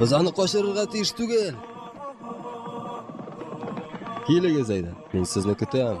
Без аны качырырга тиеш түгел. Килегез әйдә, мин сезне көтәм.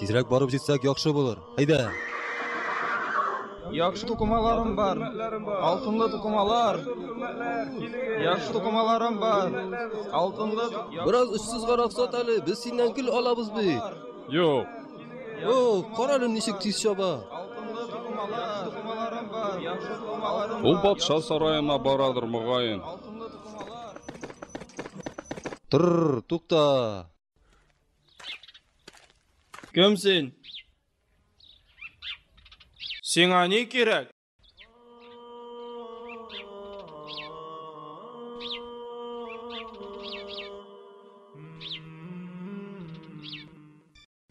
Тизрәк барып җитсәк яхшы булыр. Әйдә! Яхшы тукымаларым бар. Алтынлы тукымалар. Яхшы тукымаларым бар. Алтынлы. Бераз өссез гарак сат әле, без синнән гел алабыз бит. Юк. О, карале ничек тиз чаба. Ул патша сараена барадыр мөгаен. Тыр, тукта. Кем син? Сиңа ни кирәк?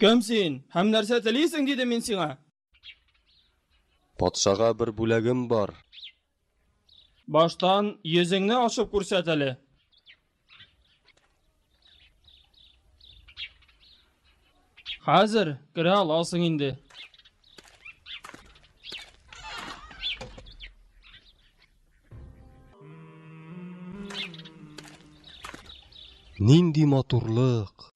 Кем син? Һәм нәрсә телисең, дидем мин сиңа. Патшага бер бүләгем бар. Баштан йөзеңне ачып күрсәт әле. Хәзер керә аласың инде. Нинди матурлык!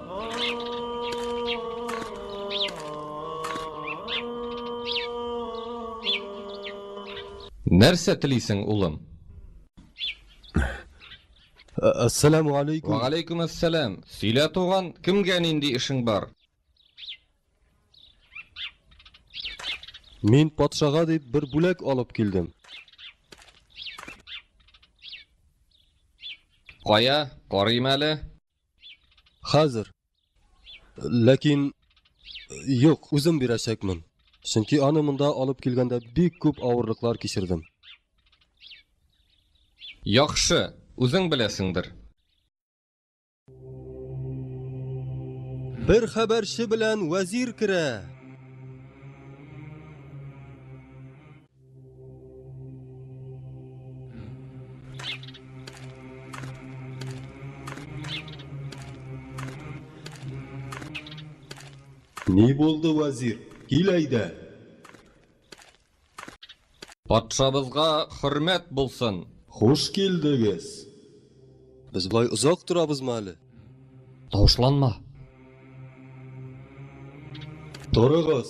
Нәрсә телисең, улым? Әссәламу алейкум. Ва алейкум әссәлам. Сөйлә, туган, кемгә нинди эшең бар? Мин патшага дип бер бүләк алып килдем. Кая, карыйм әле. Хәзер. Ләкин юк, үзем бирәчәкмен. Чөнки аны монда алып килгәндә бик күп авырлыклар кичердем. Яхшы, үзең беләсеңдер. Бер хәбәрче белән вәзир керә. Ни булды, вәзир? Кил әйдә. Патшабызга хөрмәт булсын. Хуш килдегез. Без болай озак торабызмы әле? Тавышланма. Торыгыз.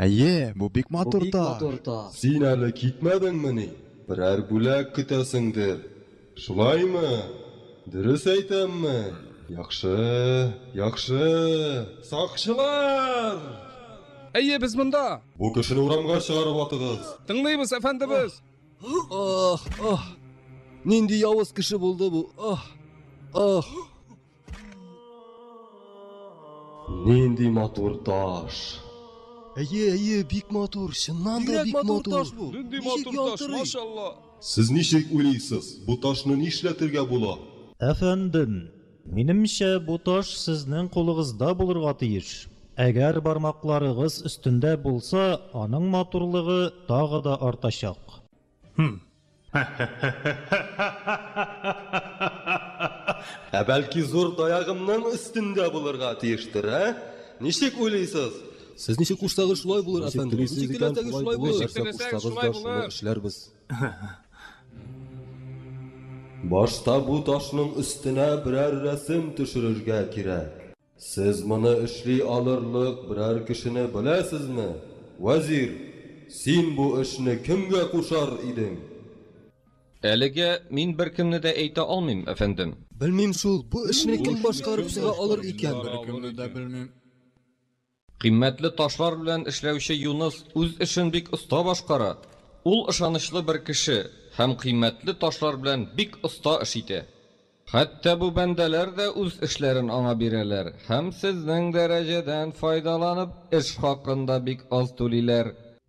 Әйе, бу бик матур таш. Син әле китмәдеңмени? Берәр бүләк көтәсеңдер. Шулаймы? Дөрес әйтәмме? Яхшы, яхшы. Сакчылар! Әйе, без монда! Бу кешене урамга чыгарып атыгыз! Тыңлыйбыз, әфәндебез! Ах! Ах! Нинди явыз кеше булды бу! Ах! Ах! Нинди матур таш! Әйе, әйе, бик матур, чыннан да бик матур. Нинди матур таш, машалла! Сез ничек уйлыйсыз, бу ташны нишләтергә була? Әфәндем, минемчә, бу таш сезнең кулыгызда булырга тиеш. Әгәр бармакларыгыз өстендә булса, аның матурлыгы тагы да артачак. Хм. Ә бәлки зур таягымның өстендә булырга тиештер, ә? Ничек уйлыйсыз? Сез ничек кушсагыз, шулай булыр, әфәндем. Ничек телисез икән, шулай булыр. Ничек теләсәгез, шулай булыр. Шуны эшләрбез. Башта бу ташның өстенә берәр рәсем төшерергә кирәк. Сез моны эшли алырлык берәр кешене беләсезме, вәзир? Син бу эшне кемгә кушар идең? Әлегә мин беркемне дә әйтә алмыйм, әфәндем. Белмим шул, бу эшне кем башкарып чыга алыр икән? Беркемне дә белмим. Кыйммәтле ташлар белән эшләүче Юныс үз эшен бик оста башкара. Ул ышанычлы бер кеше һәм кыйммәтле ташлар белән бик оста эш итә. Хәтта бу бәндәләр дә үз эшләрен аңа бирәләр һәм сезнең дәрәҗәдән файдаланып эш хакын да бик аз түлиләр.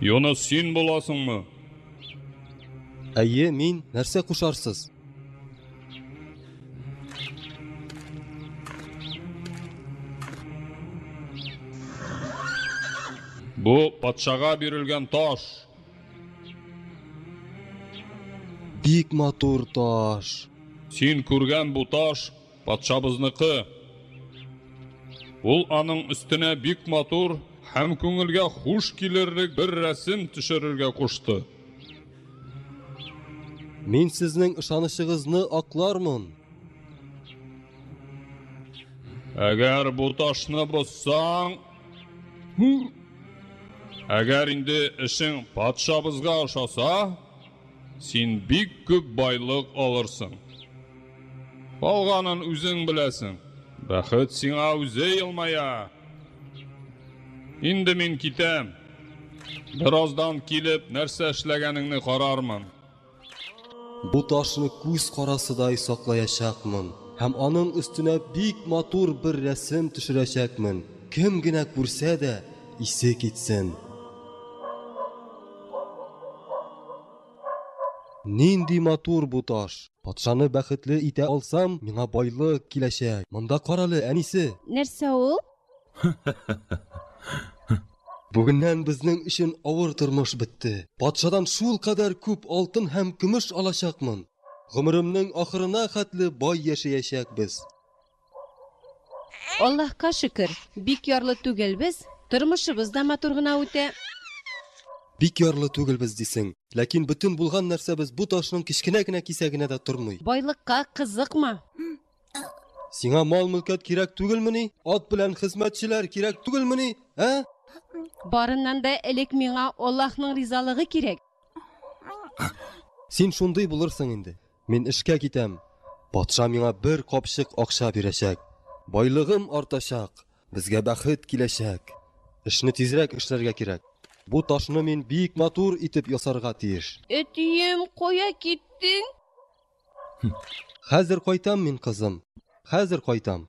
Юнус, син буласыңмы? Әйе, мин. Нәрсә кушарсыз? Бу патшага бирелгән таш. Бик матур таш. Син күргән бу таш Патшабызныкы. Ул аның өстенә бик матур һәм күңелгә хуш килерлек бер рәсем төшерергә кушты. Мин сезнең ышанычыгызны аклармын. Әгәр бу ташны бозсаң, әгәр инде эшең патшабызга ошаса, син бик күп байлык алырсың. Калганын үзең беләсең. Бәхет сиңа үзе елмая. Инде мин китәм. Бераздан килеп, нәрсә эшләгәнеңне карармын. Бу ташны күз карасыдай саклаячакмын һәм аның өстенә бик матур бер рәсем төшерәчәкмен. Кем генә күрсә дә, исе китсен. Нинди матур бу таш! Патшаны бәхетле итә алсам, миңа байлык киләчәк. Монда карале, әнисе! Нәрсә ул? Бүгеннән безнең өчен авыр тормыш бетте. Патшадан шулкадәр күп алтын һәм көмеш алачакмын! Гомеремнең ахырына хәтле бай яшәячәкбез! Аллаһка шөкер, бик ярлы түгелбез, тормышыбыз да матур гына үтә. Бик ярлы түгелбез дисең. Ләкин бөтен булган нәрсәбез бу ташның кечкенә генә кисәгенә дә тормый. Байлыкка кызыкма. Сиңа мал-мөлкәт кирәк түгелмени? Ат белән хезмәтчеләр кирәк түгелмени, ә? Барыннан да элек миңа Аллаһның ризалыгы кирәк. Син шундый булырсың инде. Мин эшкә китәм. Патша миңа бер капчык акча бирәчәк. Байлыгым артачак. Безгә бәхет киләчәк. Эшне тизрәк эшләргә кирәк. Бу ташны мин бик матур итеп ясарга тиеш. Әтием, кая киттең? Хәзер кайтам мин, кызым, хәзер кайтам.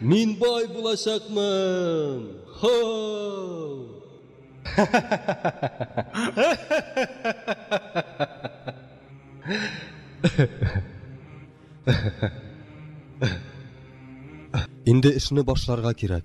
Мин бай булачакмын! Хоу! Инде эшне башларга кирәк.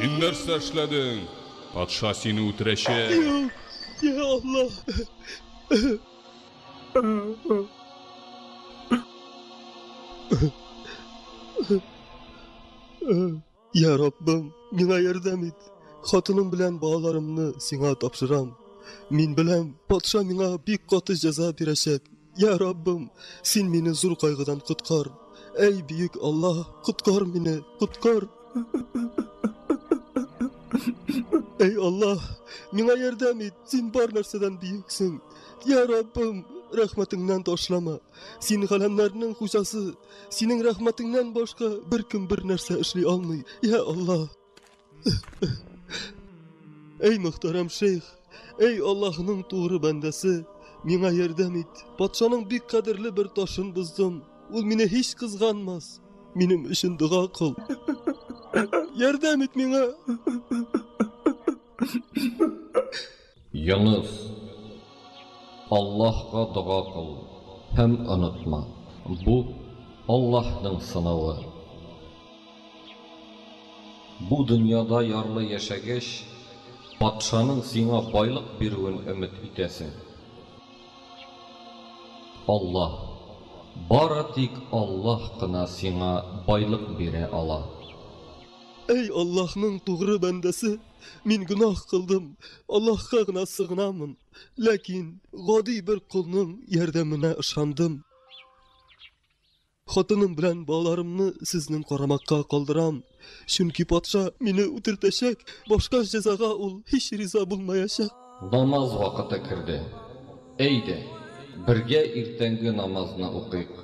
Син нәрсә эшләдең? Патша сине үтерәчәк. Юк, я Аллаһ. Uh-huh. Йә Раббым, миңа ярдәм ит. Хатыным белән балаларымны сиңа тапшырам. Мин беләм, патша миңа бик каты җәза бирәчәк. Йә Раббым, син мине зур кайгыдан коткар. Әй, бөек Аллаһ, коткар мине, коткар. Әй Аллаһ, миңа ярдәм ит, син бар нәрсәдән бөексең. Йә Раббым, рәхмәтеңнән ташлама. Син галәмнәрнең хуҗасы, Синең рәхмәтеңнән башка беркем бер нәрсә эшли алмый. Я Аллаһ. Эй мөхтәрәм шейх, эй Аллаһның тугры бәндәсе, миңа ярдәм ит. Патшаның бик кадерле бер ташын боздым. Ул мине һич кызганмас. Минем өчен дога кыл. Ярдәм ит миңа. Йоныс, Аллаһка дога кыл һәм онытма, бу, Аллаһның сынавы. Бу дөньяда ярлы яшәгәч, патшаның сиңа байлык бирүен өмет итәсең. Аллаһ, бары тик Аллаһ кына сиңа байлык бирә ала. Әй Аллаһның тугры бәндәсе! Мин гөнаһ кылдым, Аллаһка гына сыгынамын, ләкин гади бер колның ярдәменә ышандым. Хатыным белән балаларымны сезнең карамакка калдырам, чөнки патша мине үтертәчәк, башка җәзага ул һич риза булмаячак. Намаз вакыты керде. Әйдә, бергә иртәнге намазны укыйк.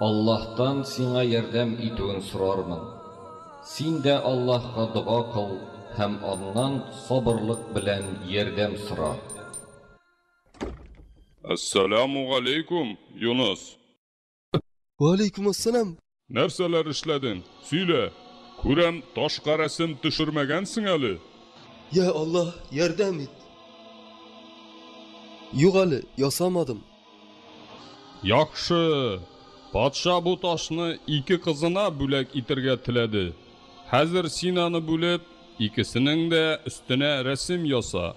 Аллаһтан сиңа ярдәм итүен сорармын. Син дә Аллаһка дога кыл һәм Аннан сабырлык белән ярдәм сора. Әссәләмү галәйкүм, Юныс! Вәләйкүм ассәлам. Нәрсәләр эшләдең? Сөйлә. Күрәм, ташка рәсем төшермәгәнсең әле. Я Аллаһ, ярдәм ит. Юк әле, ясамадым. Яхшы. Патша бу ташны ике кызына бүләк итергә теләде. Хәзер син аны бүлеп, икесенең дә өстенә рәсем яса.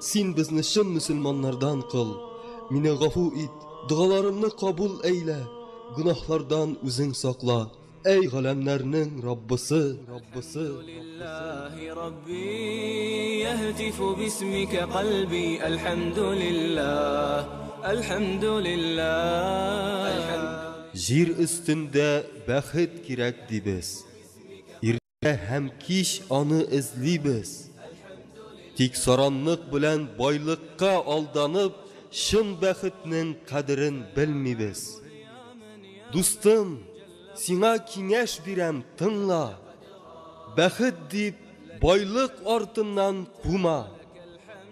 Син безне чын мөселманнардан кыл. Мине гафу ит, догаларымны кабул әйлә, гөнаһлардан үзең сакла. Әй галәмнәрнең Раббысы! Җир өстендә бәхет кирәк, дибез. Һәм кич аны эзлибез. Тик саранлык белән байлыкка алданып, чын бәхетнең кадерен белмибез. Дустым, сиңа киңәш бирәм, тыңла. Бәхет дип, байлык артыннан кума.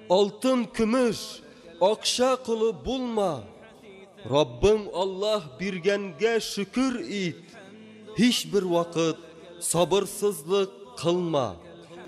Алтын, көмеш, акча колы булма. Раббың Аллаһ биргәнгә шөкер ит. Һичбер вакыт сабырсызлык кылма.